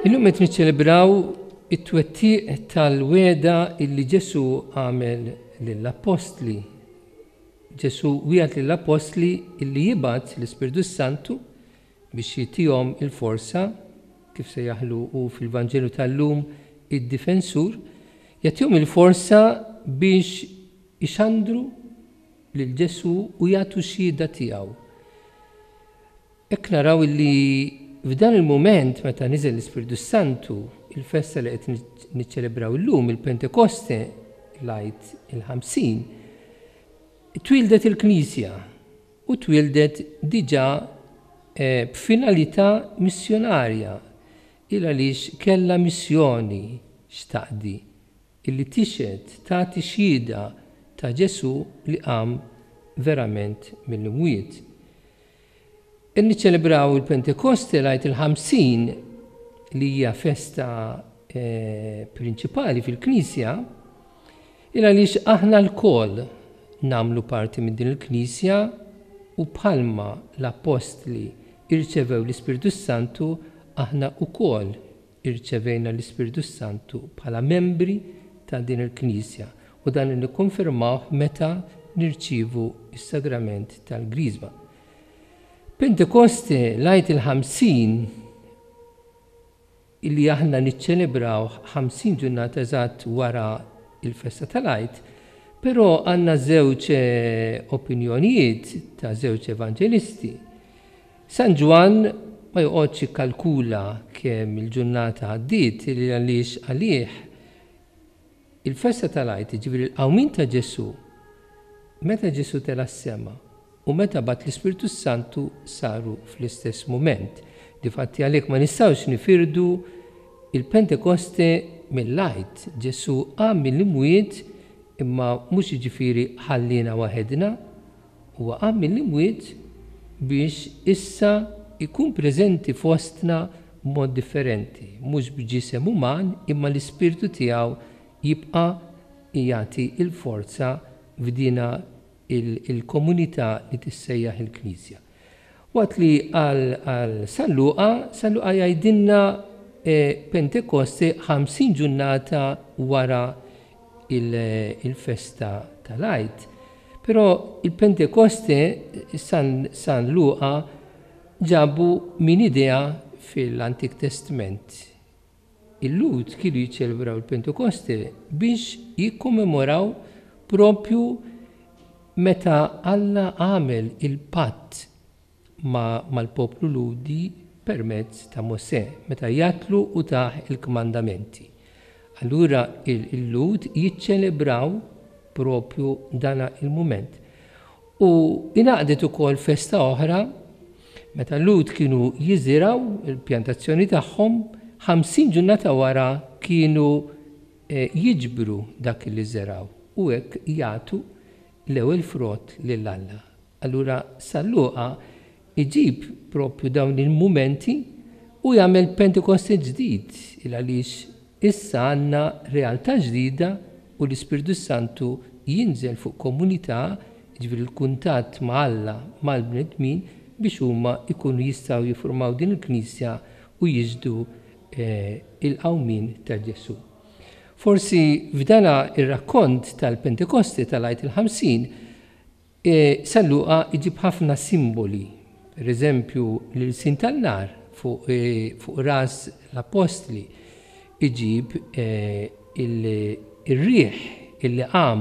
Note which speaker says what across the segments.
Speaker 1: Illum qed niċċelebraw it-twettiq tal-weda illi Ġesu għamel lill-appostli. Ġesu wieħed lill-appostli illi jibgħat l-Ispirtu Santu biex jitihom il-forza kif se jaħlu u fil-Vanġelu tal-lum id-difensur, jagħtihom il-forza biex Ixandru lil Ġesù u jagħtu x-xhieda tiegħu. Hekk naraw li f'dan il-mument meta niżel l-Ispirtu s-Santu, il-festa li qed niċċelebraw illum, il-Pentekoste, l-Għid il-Ħamsin, twieldet il-Knisja u twieldet diġà b'finalità missjonarja, il għaliex kellha missjoni x'taqdi. illi tixhed tagħti xhieda ta' Ġesù li qam verament mill-imwiet. Qed niċċelebraw il-Pentekoste, l-Għid il-Ħamsin, li hija festa prinċipali fil-Knisja, il għaliex aħna lkoll nagħmlu parti minn din il-Knisja u bħalma l-Appostli rċevew l-Ispirtu s-Santu aħna wkoll Irċevejna l-Ispirtu s-Santu bħala membri ta' din il-Knisja u dan nikkonfermawh meta nirċievu s-Sagrament tal-Griżma. Pentekoste, l-Għid il-Ħamsin, li aħna niċċelebrawh ħamsin ġurnata eżatt wara l-festa tal-Għid, però għandna żewġ opinjonijiet ta' żewġ evanġelisti. San Ġwann ma joqgħodx jikkalkula kemm il-ġurnata għaddiet li għaliex għalih il-festa tal-Għid, jiġifieri l-qawmien ta' Ġesù, meta Ġesù tela' s-sema u meta bagħat l-Ispirtu s-Santu saru fl-istess mument. Difatti għalhekk ma nistgħux nifirdu l-Pentekoste mill-Għid. Ġesù qam mill-imwiet imma mhux jiġifieri ħalliena waħedna. Huwa qam mill-imwiet biex issa jkun preżenti fostna b'mod differenti, mhux b'ġisem uman, imma l-Ispirtu tiegħu jibqa' jagħti l-forza f'dina l-komunità li tissejjaħ il-Knisja. Waqt li qal għal San Luqa, San Luqa jgħidilna Pentekoste 50 ġurnata wara il-festa tal-Għid, però il-Pentekoste San Luqa ġabu minn idea fil-Antik Testment. Il-Lhud kienu jiċċelebraw il-Pentekoste biex jikkommemoraw proprju meta Alla għamel il-patt ma' mal-poplu Lhudi permezz ta' Mosè, meta jgħattlu u tah il-kmandamenti. Allura il-Lhud jiċċelebraw proprju dan il-mument. U ingħaqdet ukoll festa oħra meta l-Lhud kienu jiżirgħu l-pjantazzjoni tagħhom, ħamsin ġurnata wara kienu jiġbru dak li żergħu u hekk jagħtu l-ewwel frott lil Alla. Allura San Luqa jġib proprju dawn il-mumenti u jagħmel Pentekoste ġdid, il għaliex issa għandna realtà ġdida u l-Ispirtu s-Santu jinżel fuq komunità, jiġifieri l-kuntatt ma' Alla mal-bnedmin biex huma jkunu jistgħu jiffurmaw din il-Knisja u jixhdu il-qawmien ta' Ġesù. Forsi f'dana r-rakkont tal-Pentekoste tal-Għid il-Ħamsin, San Luqa jġib ħafna simboli, per eżempju l-ilsien tan-nar fuq ras l-appostli jġib ir-riħ, il-liqam,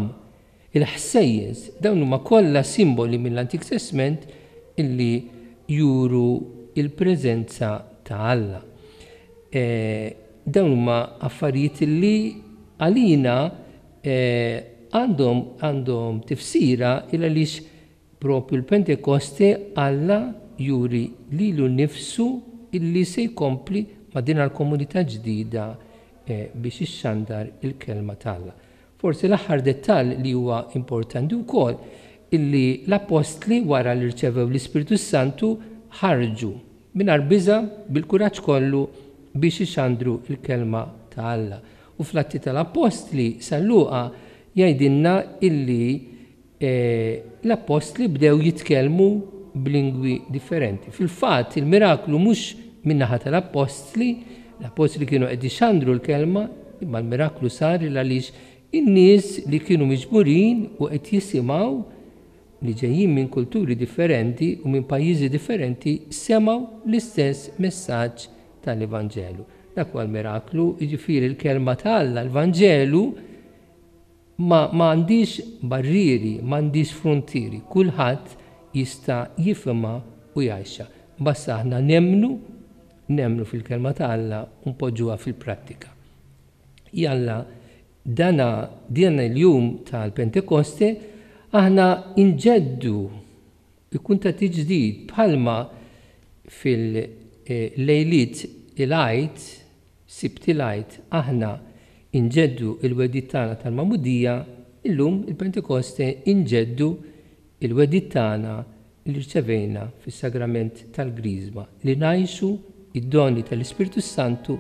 Speaker 1: il-ħsejjes, dawn huma kollha simboli mill-Antik Testment li juru l-preżenza ta' Alla. Dawn huma affarijiet li għalina għandhom għandhom tifsira il għaliex propju l-Pentekoste Alla juri lilu nnifsu illi se jkompli ma' din l-komunità ġdida biex ixxandar il-kelma t'Alla. Forsi l-aħħar dettall li huwa importanti wkoll illi l-appostli wara li rċevew l-Ispirtu s-Santu ħarġu mingħajr biża' bil-kuraġġ kollu biex ixandru l-kelma ta' Alla. U fl-Atti tal-Appostli San Luqa jgħidilna illi l-Appostli bdew jitkellmu b'lingwi differenti. Fil-fatt il-miraklu mhux min-naħa tal-Appostli, l-Appostli kienu qed ixandru l-kelma, imma l-miraklu sar il għaliex in-nies li kienu miġburin u qed jisimgħu li ġejjin minn kulturi differenti u minn pajjiżi differenti semgħu l-istess messaġġ tal-Evanġelu. Dak huwa l-miraklu, jiġifieri l-Kelma ta' Alla, l-Vanġelu, ma għandhiex barrieri, ma għandhiex fruntieri, kulħadd jista' jifhimha u jgħixha. Basta aħna nemmnu, nemmnu fil-Kelma ta' Alla u npoġġuha fil-prattika. Jalla dan din il-jum tal-Pentekoste aħna nġeddu Ikun ta' tiġdid bħalma fil-lejliet il-Għid, Sibt il-Għid, aħna nġeddu l-wegħdiet tagħna tal-magħmudija, illum il-Pentekoste nġeddu l-wegħdiet tagħna li rċevejna fis-Sagrament tal-Griżma li ngħixu d-doni tal-Ispirtu s-Santu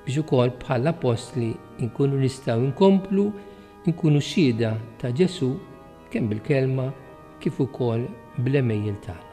Speaker 1: biex ukoll bħall-Appostli nkunu nistgħu nkomplu nkunu xhieda ta' Ġesù kemm bil-kelma kif ukoll bl-għemejjel tagħna.